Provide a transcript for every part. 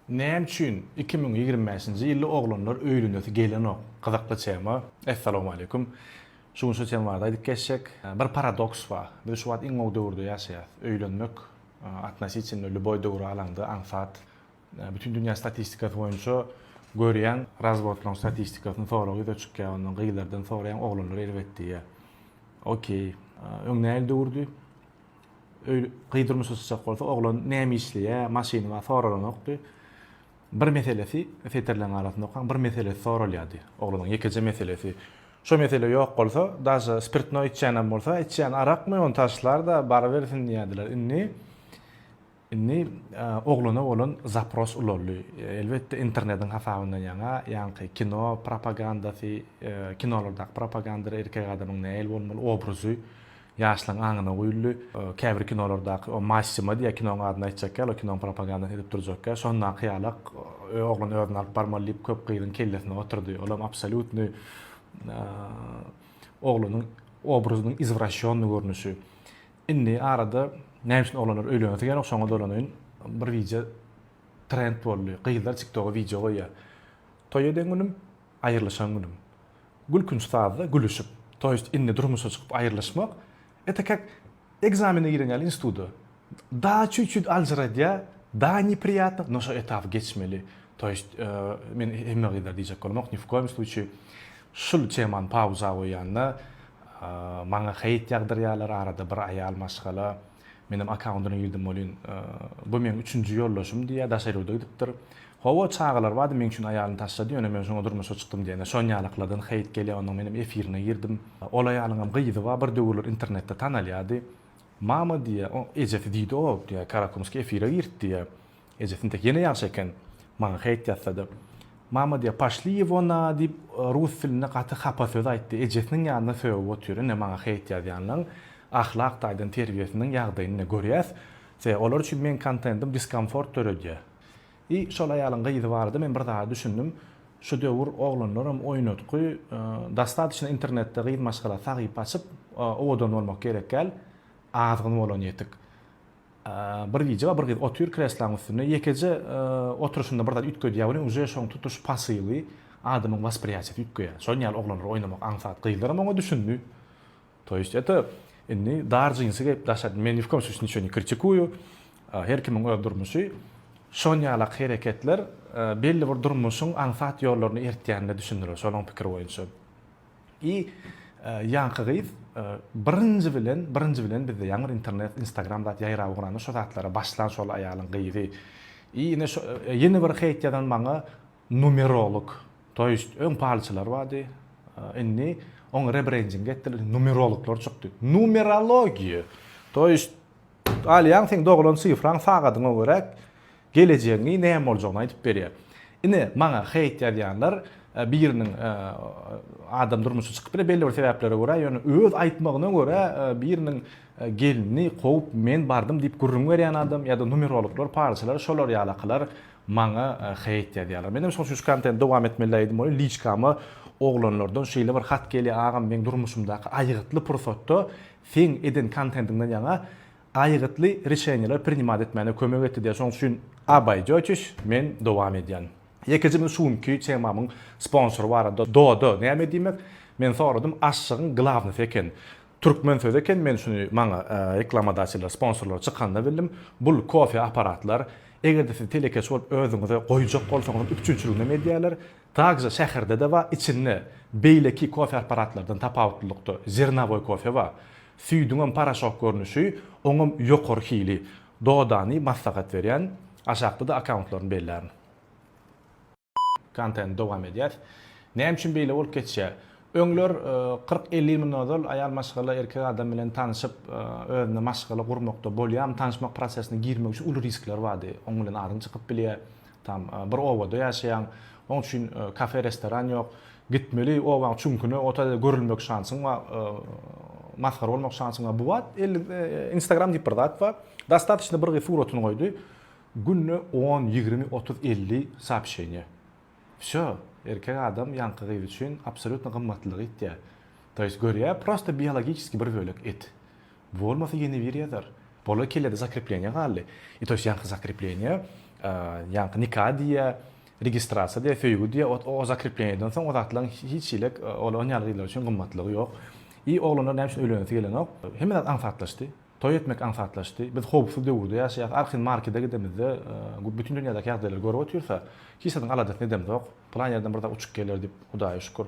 Näme üçin iki müň ýigrimi bäşinji ýylda oglanlar öýlenesi gelenok? Gyzykly tema. Essalamualeýkum. Şu gün şu tema barada aýdyp geçjek. Bir paradoks bar. Biz şu wagt iň gowy döwürde ýaşaýas. Öýlenmek atnositinno lýuboý döwri alaňda aňsat. Bütin dünýä statistikasy boýunça görýäň, razwodlaryň statistikasyny sorag ýüze çykýar, ondan gyzlardan soraýaň, oglanlar erbet diýýär. Okey. Öň nähili döwürdi? Öý gyz durmuşa çykjak bolsa, oglan näme işleýä, maşyny bar soralanokdy. Bir meselesi, setirleriň arasynda okaň, bir meselesi soralýardy. Oglanyň ýekeje meselesi. Şo mesele ýok bolsa, daže spirtnoý içýänem bolsa, içýän arakmy, ony taşlar-da, barybersin diýýärdiler. Indi. Indi oglana bolan zapros ulaldy. Elbetde, internetiň hasabyndan ýaňa, ýaňky kino propagandasy, kinolardaky propagandada erkek adamyň nähili bolmaly obrazy ýaşlaryň aňyna guýuldy. Käbir kinolardaky o Massimo diýýär, kinonyň adyny aýtjak ýaly, kinonyň propagandasyny edip durjak ýaly, şondaky ýalak oglan özüni alyp barmaly diýip köp gyzyň kellesine oturdy. Olam absolýutnyý oglanyň obrazynyň izwraşýonnyý görnüşi. Indi arada näme üçin oglanlar öýlenesi gelýän şoňa dolanaýyn. Bir wideo trend boldy. Gyzlar tiktoga wideo goýýar. Toý eden günüm, aýrylyşan günüm. Gülkünç sazda gülüşip. To ýest indi durmuşa çykyp aýrylyşmak eta kak ekzamene giren ýaly instituda. Da çüt çüt aljyradýa, da nepriyatno, no şo etapy geçmeli. To ýest men hemme gyzlara diýjek bolamok, ni w koýum sluçi şul temany pauza goýýan da. Maňa heýt ýagdyrýarlar, arada bir aýal maşgala meniň akkaundyna girdim welin, bu meň üçünji ýoldaşym diýýär, daşary ýurda gidipdir. Hawa, çagalar bardy, meň üçin aýalyny taşlady, ýöne men şoňa durmuşa çykdym diýende, şonýalyklardan heýt gelýär, ondan menem efirine girdim. Ol aýalyňam gyzy bar, bir döwürler internetde tanalýardy. Mama diýýär, oň ejesi diýdi-ow, diýýär, Karakumski efire girt diýýär. Eje Sintek ýene ýagşy eken, maňa heýt ýatsady. Mama diýýär, Poşli ýewo na! diýip, rus dilinde gaty hapa söz aýtdy. Ejesiniň ýanynda sögüp otyr. Ine, maňa heýt ýazýanlaň ahlak taýdan terbiýesiniň ýagdaýyny ine, görýäs. Se, olar üçin meň kontentim diskomfort döredýär. I, şol aýalyň gyzy barada men bir zada düşündim. Şu döwür oglanlaram oýnatgy, dostatyçna internetde gyz maşgala sahypa açyp, owadan bolmak gerekgäl, azgyn bolan ýetik. Bir gije we bir gyz otyr kreslaň üstünde, ýekeje oturyşynda bir zat üýtgedýär, welin uje şoň tutuş pasyly adamyň waspriýatiýasy üýtgeýär. Şol ýaly oglanlar oýnamak aňsat. Gyzlaram oňa düşündi. To ýest eto, indi dar jinsi geýip daşa, men ni w kom slusýe niço ne kritikuýu, her kimiň öz durmuşy. Şon ýalak hereketler belli bir durmuşyň aňsat ýollaryny eritýänine düşündiler, şolaň pikiri boýunça. I ýaňky gyz birinji bilen birinji bilen bizde ýaňy bir internet instagram zat ýaýrap ugranda şo zatlara başlan şol aýalyň gyzy i ine şo ýene bir heýt ýazan maňa numerolog to ýest öň palçylar bardy indi oň rebrending etdiler numerologlar çykdy numerologiýa to ýest Alýaň seň doglan sifraň sagadyňa görä gelejegiňi näme boljagyny aýdyp berýär. Ine maňa hate ýazýanlar biriniň adam durmuşy çykyp biler belli bir sebäplere görä ýöne öz aýtmagyna görä biriniň gelini kowup men bardym diýip gürrüň berýän adam ýa-da numerologlar palçylar şolar ýalakylar maňa hate ýazýarlar. Menem şoň üçin şu kontenti dowam etmeli aýdym bolýar liçkama oglanlardan şeýle bir hat gelýär agam meň durmuşymdaky aýgytly pursatda seň eden kontentiňden ýaňa aýgytly rişeniýeler prinimad etmäne kömek etdi diýer şoň üçin abaýjoçiş men dowam edýän. Ýekejemiz şu günki temamyň sponsory barada doda näme diýmek men soradym aşşygyň glawnosy eken türkmen sözi eken men şuny maňa reklamadaçylar sponsorlar çykanda bildim bul kofe aparatlar egerde siz telekeçi bolup özüňize goýjak bolsaňyzam üpjünçiliginem edýäler Takja şäherde-de bar, içinde beýleki kofe apparatlardan tapawutlylykda zernowoý kofe bar. Süýdüňem poroşok görnüşi, oňam ýokary hili. Dodany maslahat berýän, aşakda-da akkauntlaryny bellärin. Kontent dowam edýär. Näme üçin beýle bolup geçýär? Öňler kyrk-elli ýyl mundan ozal aýal maşgala erkek adam bilen tanşyp, özüne maşgala gurmakda bolýarmy, tanyşmak prosesine girmek üçin uly riskler bardy. Oň bilen aryň çykyp bilýär. Tam bir obada ýaşaýaň. Oň üçin kafe restoran ýok. Gitmeli obaň çüňküne ota de görülmek şansyň bar. Masgara bolmak şansyň bar. Bu wagt instagram diýip bir zat bar. Dostatyçny bir gyz suratyny goýdy. Günde on, ýigrimi, otuz, elli soobşeniýa. Wsýo. Erkek adam ýaňky gyz üçin absolýutno gymmatlylygy ýitýär. To ýest görýär prosta biologiçeskiý bir bölek et. Bolmasa ýene biri ýazar. Bola kelede zakrepleniýa galdy. I to ýest ýaňky zakrepleniýa, ýaňky nika diýýä, registrasiýa diýýä, söýgi diýýä, ot o zakrepleniýadan soň o zatlaryň hiç hili ol on ýaly gyzlar üçin gymmatlygy ýok. I oglanlar näme üçin öýlenesi gelenok? Hemme zat aňsatlaşdy. Toý etmek aňsatlaşdy. Biz howpsuz döwürde ýaşaýas. Arhin markede gidemizde bütin dünýädäki ýagdaýlary görüp otyrsa, hiç zadyň aladasyny edemzok. Pylan ýerden bir zat uçup geler diýip, Hudaýa şükür.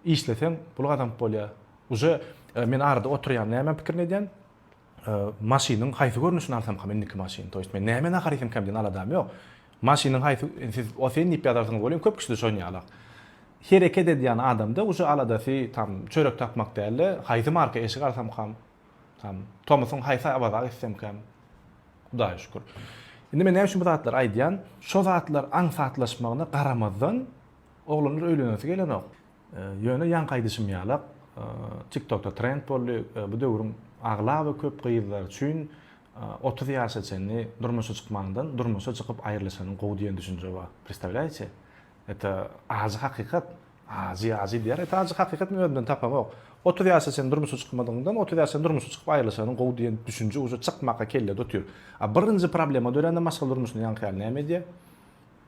Işleseň, pul gazanyp bolýar. Uje men arada oturýan näme pikirini edýän maşynyň haýsy görnüşini alsamkam indiki maşyny toýst men näme nahar iýsemkäm diýen aladam ýok maşynyň haýsy siz osen diýip ýazarsyňyz bolýan köp kişide şonýalak hereket edýän adamda uje aladasy tam çörek tapmak dälde haýsy marka eşik alsamkam tam tomusyň haýsy awaza gitsemkäm hudaýa şükür indi men näme üçin bu zatlary aýdýan şo zatlar aňsatlaşmagyna garamazdan oglanlar öýlenesi gelenok Ýöne ýaňky aýdyşym ýalak, TikTokda trend boldy, bu döwrüň aglaba köp gyzlary üçin otuz ýaşa çenli durmuşa çykmandan durmuşa çykyp aýrylyşanyň gowy diýen düşünje bar. Predstawlýaýçe? Eta ajy hakykat. Ajy ajy diýer, eta ajy hakykat men özümden tapamok. Otuz ýaşa çenli durmuşa çykmadygyňdan otuz ýaşa çenli durmuşa çykyp aýrylyşanyň gowy diýen düşünje uje çykmaka kellede otyr. A birinji problema dörände maşgala durmuşynda ýaňky ýaly näme edýär?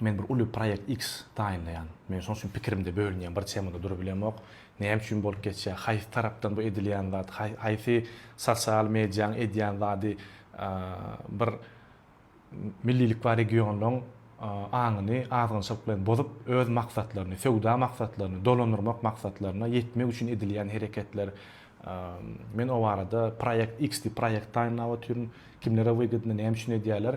Men bir uly proýekt X taýynlaýan. Men şoň üçin pikirimde bölünýän, bir temada durubilemok. Näme üçin bolup geçýär? Haýsy tarapdan bu edilýän zat? Haýsy sosial mediýaň edýän zady bir millilik bar regionyň aňyny azgynçylyk bilen bozup, öz maksatlaryny, söwda maksatlaryny, dolandyrmak maksatlaryna ýetmek üçin edilýän hereketler. Men o barada proýekt X diýip proýekt taýynlap otyryn. Kimlere wygydny, näme üçin edýärler?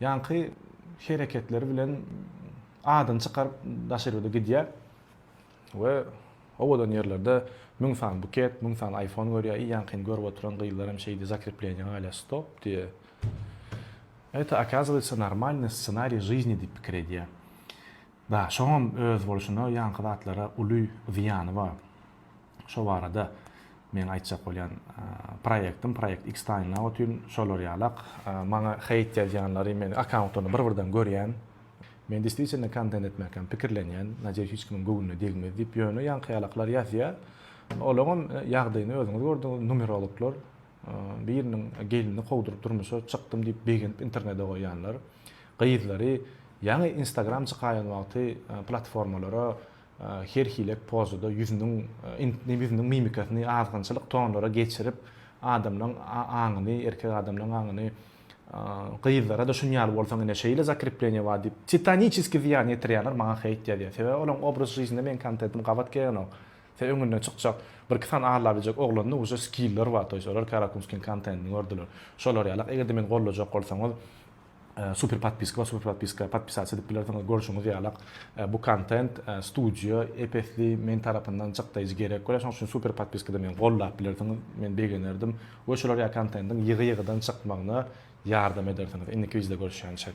Ýaňky hereketleri bilen adyny çykaryp daşerbede gidýär we owadan ýerlerde müň sany buket, müň sany aýfon görýär, i ýaňkyny görüp oturan gyzlar hem şeýdi zakrepleniýa galýar stop diýe eta okazywatsa normalny ssenariý žyzni diýip pikir edýär da şoňam öz bolşuna ýaňky zatlara uly zyýany bar. şo barada meň aýtjak bolýan proýektim proýekt Xtaýna otyn şolar ýalak maňa heýt ýazýanlary men akkauntlaryny bir birden görýän men deswitielno kontent etmekam pikirlenýän nadeýus hiç kimiň göwnüne degmez diýip ýöne ýaňky ýalaklar ýazýa olaňam ýagdaýyny özüňiz gördüňiz numerologlar biriniň gelnini kowduryp durmuşa çykdym diýip begenip internede goýýanlar gyzlary ýaňy instagram çykaýan wagty platformalara her hile pozada ýüzüniň intinim ýüzüniň mimikasyny azgynçylyk tonlara geçirip adamlaň aňyny erkek adamlaň aňyny gyzlara-da şun ýaly bolsaň ine şeýle zakrepleniýe bar diýip titaniçeski zyýan ýetirýänler maňa heýt ýazýar sebäbi olaň obraz žizine meň kontentim gabat gelenok se öňüne çykjak bir iki sany alla biljek oglanda uje skiller bar toýs olar karakumskiň kontentini gördüler şolar ýalak eger-de meni gollajak bolsaňyz Super podpiska we super podpiska podpisasiýa edip bilersiňiz. Görşüňiz ýalak, bu kontent studio ep-esli men tarapyndan çykdaýjy gerek bolýar. Şonuň üçin super podpiskada meni goldap bilersiňiz. Men begenerdim we şular ýaly kontentiň ýygy-ýygydan çykmagyna ýardam edersiňiz. Indiki wideoda görüşýänçek.